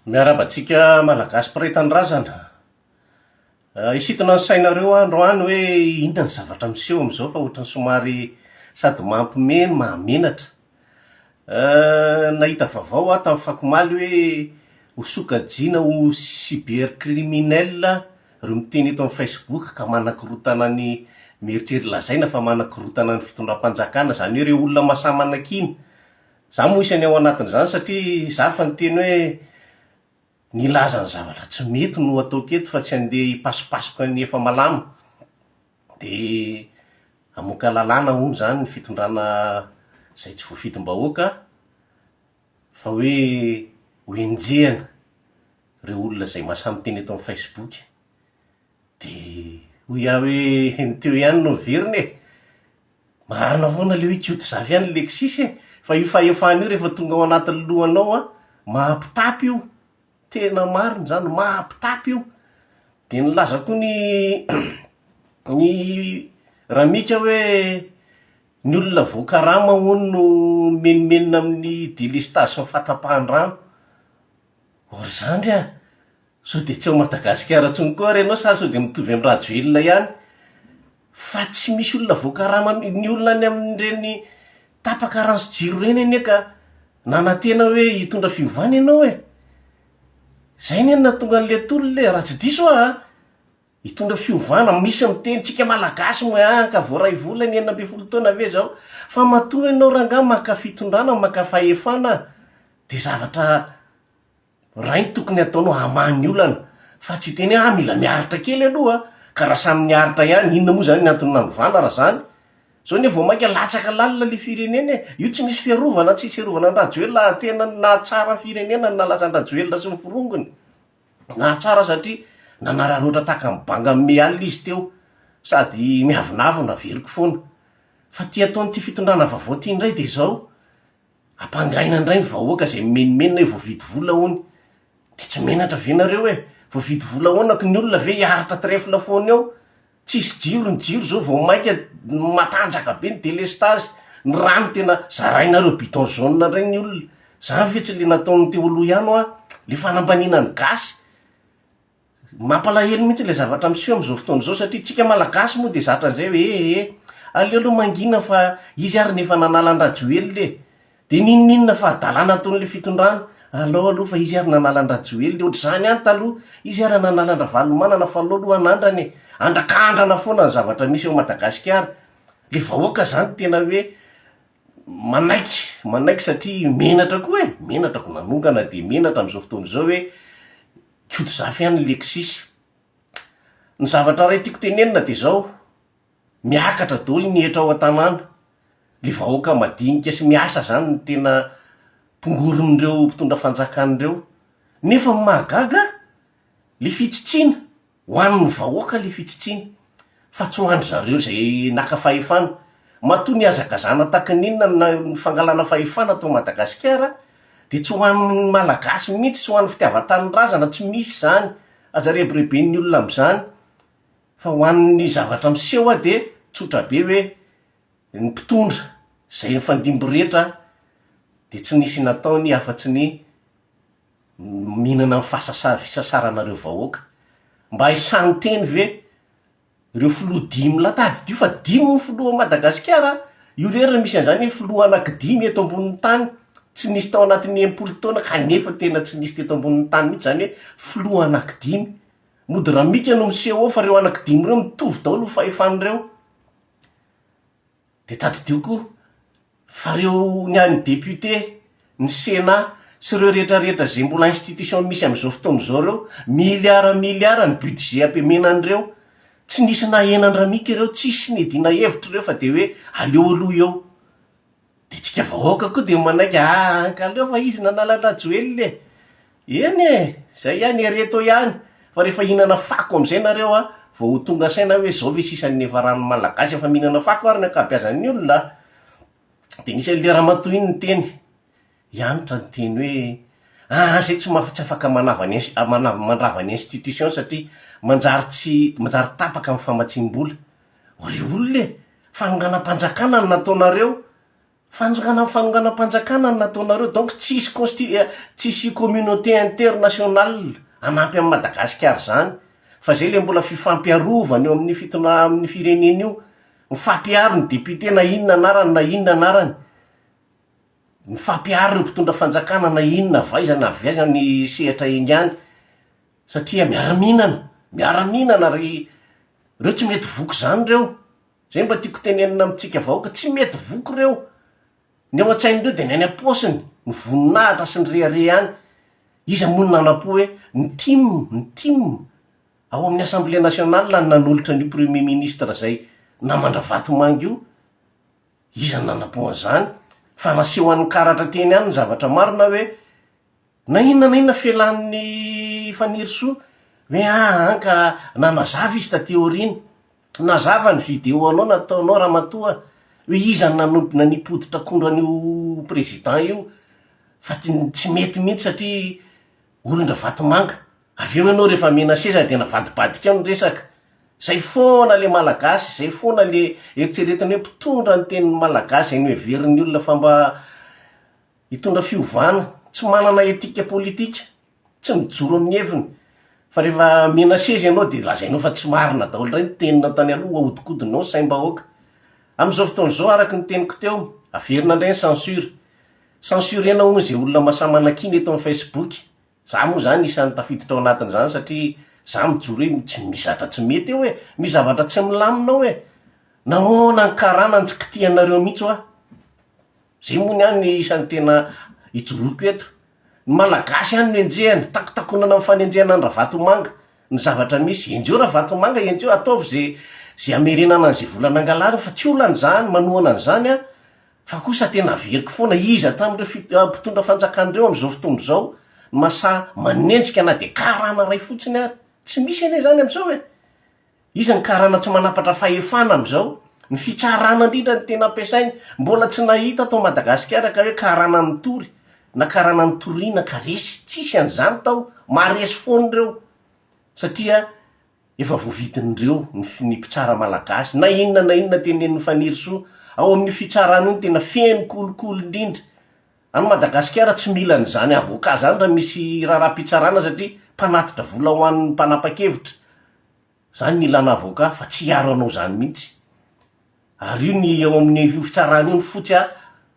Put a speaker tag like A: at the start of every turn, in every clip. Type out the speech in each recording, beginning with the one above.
A: Miarahaba antsika Malagasy mpiray tanindrazana. Hisintona ny sainareo aho androany hoe inona ny zavatra miseho amin'izao fa ohatran'ny somary sady mampime no mahamenatra. Nahita vaovao aho tamin'ny fako omaly hoe ho sokajiana ho cybercriminel ireo miteny eto amin'ny Facebook ka manakorontana ny, mieritreritra lazaina fa manakorontana ny fitondram-panjakana, izany hoe ireo olona mahasahy manakiana Za moa isany ao anatin'izany satria za fa niteny hoe nilaza ny zavatra tsy mety no ataoko eto fa tsy andeha hipasipasoka ny efa malama. Dia hamoaka lalàna hono izany ny fitondrana izay tsy voafidim-bahoaka fa hoe ho enjehina ireo olona izay masaha miteny eto amin'ny Facebook. Dia hoy aho hoe ny teo ihany no averina e! Marina foana le hoe Koto zavy any Lexis e! Fa io fahefana io rehefa tonga ao anatin'ny lohanao an, mampitapy io, tena marina izany, mampitapy io. Dia nilaza koa ny ny Ramika hoe ny olona voakarama hono no mimenomenona amin'ny délestage sy ny fatapahan-drano. Or izany re an! Sao dia tsy ao Madagasikara intsony koa ary ianao sa sao dia mitovy amin'i Rajoelina ihany? Fa tsy misy olona voakaraman'ny olona any amin'ireny tapaka rano sy jiro ireny anie ka nanantena hoe hitondra fiovana ianao e! Izay anie no nahatonga an'ilay tolona e! Raha tsy diso aho an! Hitondra fiovana, misy miteny tsika Malagasy moa an! Ka voaray vola ny enina ambin'ny folo taona ve izao? Fa matoa ianao rangahy maka fitondrana, maka fahefana dia zavatra Ray ny tokony ataonao hamaha ny olana fa tsy hiteny hoe ah mila miaritra kely aloha a! ka raha samy niaritra ihany inona moa zany ny antony nanovana raha zany? zao anie vao maika latsaka lalina le firenena e! io tsy misy fiarovana tsisy hiarovana an drajoelina ary tena ny nahatsara ny firenena ny nalaza an drajoelina sy ny forongony nahatsara satria nanararoatra tahaka ny banga mimehy alina izy teo sady miavonavona averiko foana fa ty ataon'ity fitondrana vaovao ty ndray de zao Ampangaina ndray ny vahoaka zay mimenomenona hoe voavidy vola hono. De tsy menatra ve nareo e? Voavidy vola ahoana ko ny olona ve hiaritra trèfle foana eo? Tsisy jiro ny jiro zao vao maika matanjaka be ny délestage. Ny rano tena zarainareo biton jaune ndray ny olona. Zany ve tsy le nataon'ny teo aloha ihany hoa? Le fanambaniana ny gasy. Mampalahelo mihitsy ilay zavatra miseho amin'izao fotoana izao satria tsika malagasy moa dia zatra an'izay hoe eh eh aleo aloha mangina fa izy ary no efa nanala an-dRajoelina e! dia n'inon'inona fahadalana ataon'ilay fitondrana, alao aloha fa izy ary nanala an-dRajoelina e! ohatr'izany ihany taloha, izy ary nanala an-dRavalomanana fa alao aloha anandrana e! andrakandrana foana ny zavatra misy ao Madagasikara, ilay vahoaka izany tena hoe manaiky manaiky satria menatra koa e! menatra ko nanongana dia menatra amin'izao fotoana izao hoe Koto zafy any Lexis. Ny zavatra iray tiako tenenina dia zao, miakatra daholo ny hetra ao an-tanàna, le vahoaka madinika sy miasa zany no tena tongoron'ireo mpitondra fanjakana ireo, nefa ny mahagaga le fitsitsiana, ho an'ny vahoaka le fitsitsiana. fa tsy ho an-dry zareo izay naka fahefana. Matoa nihazakazana tahaka ny inona ny na ny fangalana fahefana tao Madagasikara dia tsy ho an'ny Malagasy mihitsy, tsy ho an'ny fitiavan-tanindrazana, tsy misy izany, aza rebireben'ny olona amin'izany, fa ho an'ny zavatra miseho aho dia tsotra be hoe ny mpitondra izay nifandimby rehetra dia tsy nisy nataony afa-tsy ny mihinana ny fasasa fisasaranareo vahoaka. Mba esahan'ny teny ve reo filoha dimy latady dio fa dimy ny filoha Madagasikara a! io re re misy an'izany filoha anakidimy eto ambonin'ny tany tsy nisy tao anatin'ny enimpolo taona kanefa tena tsy nisy teto ambonin'ny tany mihitsy zany hoe filoha anakidimy. Mody ramika no miseho ao fa reo anakidimy reo mitovy daholo ny fahefan'ireo. Dia tadidio koa fa ireo ny an'ny député, ny sénat sy ireo rehetra rehetra izay mbola institution misy amin'izao fotoana izao ireo, milliards milliards ny budget ampemena an'ireo, tsy nisy nahena an-dRamika ireo, tsisy niadiana hevitra ireo fa dia hoe aleo aloha eo. Dia tsika vahoaka koa dia manaiky, ah! Ka aleo fa izy nanala an-dRajoelina e! Eny e! Zay ihany ereto ihany fa rehefa hihinana fako amizay nareo a, vao ho tonga saina hoe zao ve sisa ny niafaran'ny malagasy efa mihinana fako ary ny ankabiazan'ny olona a! Dia nisy an'ilay ramatoa iny niteny, i Hanitra niteny hoe, aa zay tsy tsy afaka manava ny inst manava mandrava ny institution satria manjary tsy manjary tapaka ny famatsiam-bola, ô re olona e! Fanonganam-panjakana no nataonareo, Fanjakana am fanongana mpanjakana no nataonareo donc tsisy consti eh tsisy communauté international hanampy am Madagasikara zany fa zay le mbola fifampiarovana eo amin'ny fitondra am ny firenena io mifampiharo ny député na inona anarany na inona anarany mifampiharo ireo mpitondra fanjakana na inona avy aiza na avy aiza ny sehatra ingany satria miara mihinana miara mihinana ry reo tsy mety voky zany reo Zay mba tiako tenenina amintsika vahoaka, tsy mety voky ireo, ny ao an-tsain'ireo dia ny any am-paosiny, ny voninahitra sy ny rehareha any, iza moa no nanampo hoe ny tim, ny tim, ao amin'ny assemblée nationale no nanolotra an'io premier ministre zay namandra vatomanga io, iza no nanampo an'izany, fa naseho an'ny karatra teny any ny zavatra marina hoe, Na inona na inona fialan'i Fanirisoa hoe aa ka nanazava izy taty aoriana. Nazava ny video anao nataonao ramatoa a! hoe iza no nanodina ny poditr'akondro an'io président io fa tsy mety mihitsy satria olon-dRavatomanga. Avy eo ianao rehefa mena seza dia navadibadika eo ny resaka. Izay foana ilay Malagasy, izay foana ilay eritreretina hoe mpitondra ny tenin'ny Malagasy izay noheverin'ny olona fa mba Hitondra fiovana, tsy manana etika politika, tsy mijoro amin'ny heviny, fa rehefa menacer-z ianao dia lazainao fa tsy marina daholo indray ny teninao tany aloha, hohodikodinao ny saim-bahoaka. Amin'izao fotoana izao, araka ny teniko teo, averina indray ny censure. Censurer-na hono izay olona mahasahy manakiana eto amin'ny Facebook. Izaho moa izany isan'ny tafiditra ao anatin'izany satria izaho mijoro hoe tsy misy zavatra tsy mety eo e! Misy zavatra tsy milamina ao e! Nahoana ny karana no tsy kitihanareo mihitsy hoa? Zay moa ny ahy no isan'ny tena ijoroako eto. Ny Malagasy ihany no enjehina, takotakonana amin'ny fanenjehana an'i Ravatomanga ny zavatra misy. Enjeho Ravatomanga, enjeho, ataovy ze ze hamerenana an'izay vola nangalariny fa tsy olana izany, manohana an'izany aho, fa kosa tena averiko foana, iza tamin'ireo fit- mpitondra fanjakana ireo amin'izao fotoana izao no mahasahy manenjika na dia karana iray fotsiny ary? Tsy misy anie izany amin'izao e! Iza ny karana tsy manapatra fahefana amin'izao? Ny fitsarana indrindra no tena ampiasainy. Mbola tsy nahita tao Madagasikara ka hoe karana nitory na karana nitoriana ka resy. Tsisy an'izany tao. Maharesy foana ireo satria efa voavidin'ireo ny fi, ny mpitsara malagasy. Na inona na inona tenenin'i Fanirisoa. Ao amin'io fitsarana io no tena feno kolikoly indrindra. Any Madagasikara tsy mila an'izany avocat izany raha misy raharaha-pitsarana satria mpanatitra vola ho an'ny mpanapa-kevitra. Zany ny ilana avocat fa tsy hiaro anao zany mihitsy. Ary io ny ao amin'ny io fitsarana io ny fotsy a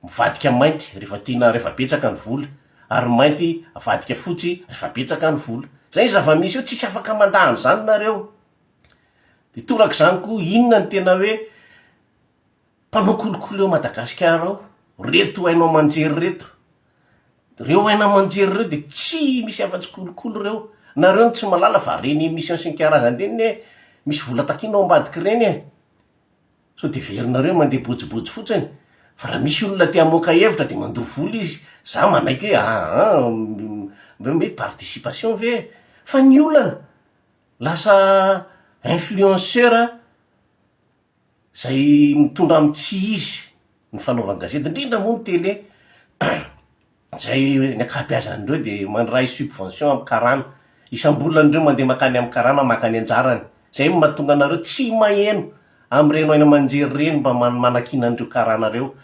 A: mivadika mainty rehefa tiana rehefa betsaka ny vola ary mainty avadika fotsy rehefa betsaka ny vola. Zay ny zava-misy eo tsisy afaka mandà an'izany nareo. De toraka izany koa inona ny tena hoe Mpanao kolikoly ao Madagasikara ao, reto haino aman-jery reto. Reo haino aman-jery reo dia tsy misy afa-tsy kolikoly ireo. Nareo no tsy malala fa reny emission sy ny karazany reny ne misy vola takiana ao ambadiky reny e. Sao dia heverinareo mandeha bojibojy fotsiny. Fa raha misy olona te hamoaka hevitra dia mandoa vola izy. Za manaiky hoe aa mbe mbe participation ve e. Fa ny olana lasa influenceur. Izay mitondra amin'ny tsy izy ny fanaovany gazety, indrindra moa ny télé, izay ny ankabeazan'ireo dia mandray subvention amin'ny karana, isam-bolany ireo mandeha mankany amin'ny karana maka ny anjarany, izay no mahatonga anareo tsy maheno amin'ireny haino aman-jery ireny mba manakiana an'ireo karana ireo.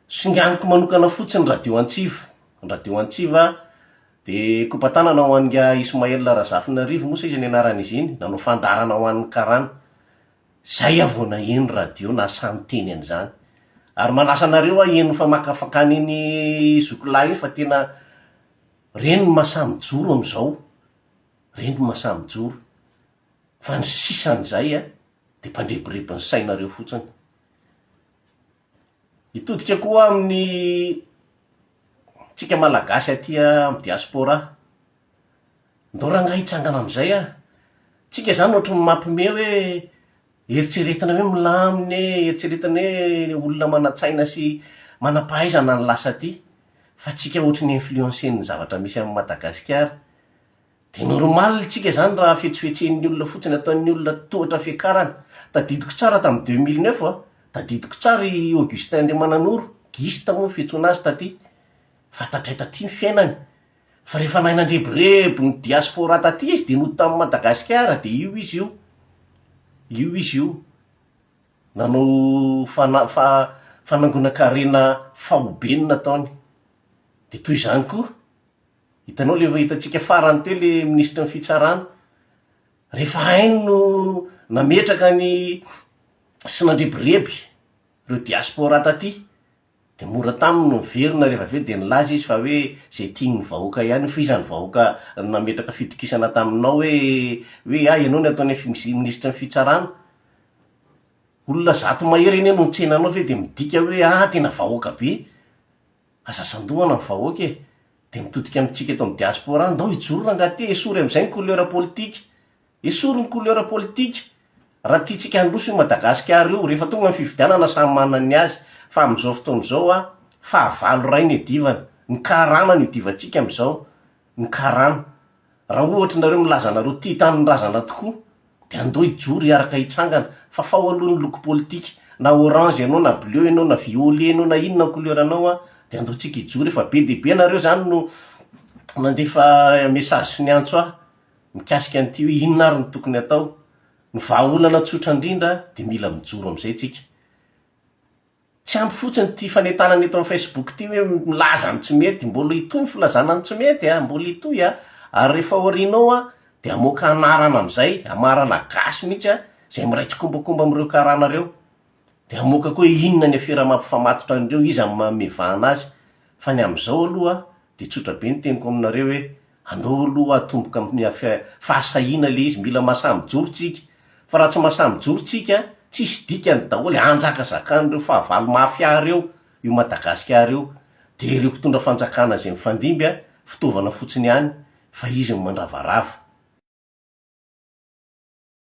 A: Singaniko manokana fotsiny ny radio antsiva, ny radio antsiva dia kopa-tanana ho an'ingahy Ismaël Razafinarivo moa sa iza ny anaran'izy iny, nanao fandaharana ho an'ny karana. Zay aho vao naheno radio nahasahy niteny an'izany. Ary manasa anareo aho hihaino famakafakana iny zoky lahy iny fa tena reny no mahasahy mijoro amin'izao. Reny no mahasahy mijoro. Fa ny sisan'izay an, dia mpandrebireby ny sainareo fotsiny. Hitodika koa amin'ny tsika malagasy aty amin'ny diaspora. Ndao rangahy hitsangana amin'izay a! Tsika izany ohatry ny mampime hoe eritreretina hoe milamina e, eritreretina hoe olona manan-tsaina sy manam-pahaizana no lasa aty, fa tsika ohatry ny influencer-n'ny zavatra misy amin'i Madagasikara. Dia normal tsika izany raha fetsifetsen'ny olona fotsiny ataon'ny olona tohatra fiakarana. Tadidiko tsara tamin'ny deux mille neuf a, tadidiko tsara i Augustin Andriamananoro, Gista moa ny fiantsoana azy taty, fa tatray taty ny fiainany. Fa rehefa nahay nandrebireby ny diaspora taty izy dia nody tamin'i Madagasikara dia io izy io, io izy io nanao fana- fa- fanangonan-karena faobe ny nataony. Dia toy izany koa Hitanao le efa hitantsika farany teo le minisitry ny fitsarana, rehefa hainy no nametraka ny sy nandrebireby reo diaspora taty de mora taminy ny miverina rehefa avy eo de nilaza izy fa hoe ze tiany ny vahoaka ihany io fa iza ny vahoaka nametraka fitokisana taminao hoe hoe ah ianao ny atao ny minisitry ny fitsarana olona zato mahery anie no nitsena anao ve de midika hoe ah tena vahoaka be Aza sandohana ny vahoaka e! Dia mitodika amintsika eto amin'ny diaspora, ndao hijoro rangah aty, esory amin'izay ny couleur politika! Esory ny couleur politika! Raha tiantsika handroso io Madagasikara io, rehefa tonga ny fifidianana samy manana ny azy, fa amin'izao fotoana izao an, fahavalo ray no iadivana, ny karana no idivantsika amin'izao, ny karana. Raha ohatry nareo milaza nareo tia tanindrazana tokoa dia andao hijoro hiaraka hitsangana fa fao aloha ny loko politika na orange enao na bleu enao na violet enao na inona ny couleur anao an dia andao tsika hijoro efa be dia be nareo zany no nandefa message sy niantso ahy mikasika an'ity hoe inona ary ny tokony atao ny vahaolana tsotra indrindra dia mila mijoro amizay tsika Tsy ampy fotsiny ity fanentanana eto amin'ny Facebook ity hoe milaza ny tsy mety, mbola hitohy ny filazana ny tsy mety a, mbola hitohy a, ary rehefa ao aoriana ao a, dia hamoaka anarana amin'izay, hamarana gasy mihitsy a, izay miray tsikombakomba amin'ireo karana ireo, dia hamoaka koa hoe inona ny afera mampifamatotra an'ireo, iza no manome vahana azy, fa ny amin'izao aloha dia tsotra be ny teniko aminareo hoe Andao aloha atomboka amin'ny fahasahiana ilay izy, mila masaha mijoro tsika, fa raha tsy masaha mijoro tsika, tsisy dikany daholo, hanjakazakan'ireo fahavalo mafia ireo io Madagasikara io, dia ireo mpitondra fanjakana izay mifandimby an, fitaovana fotsiny ihany, fa izy no mandravarava.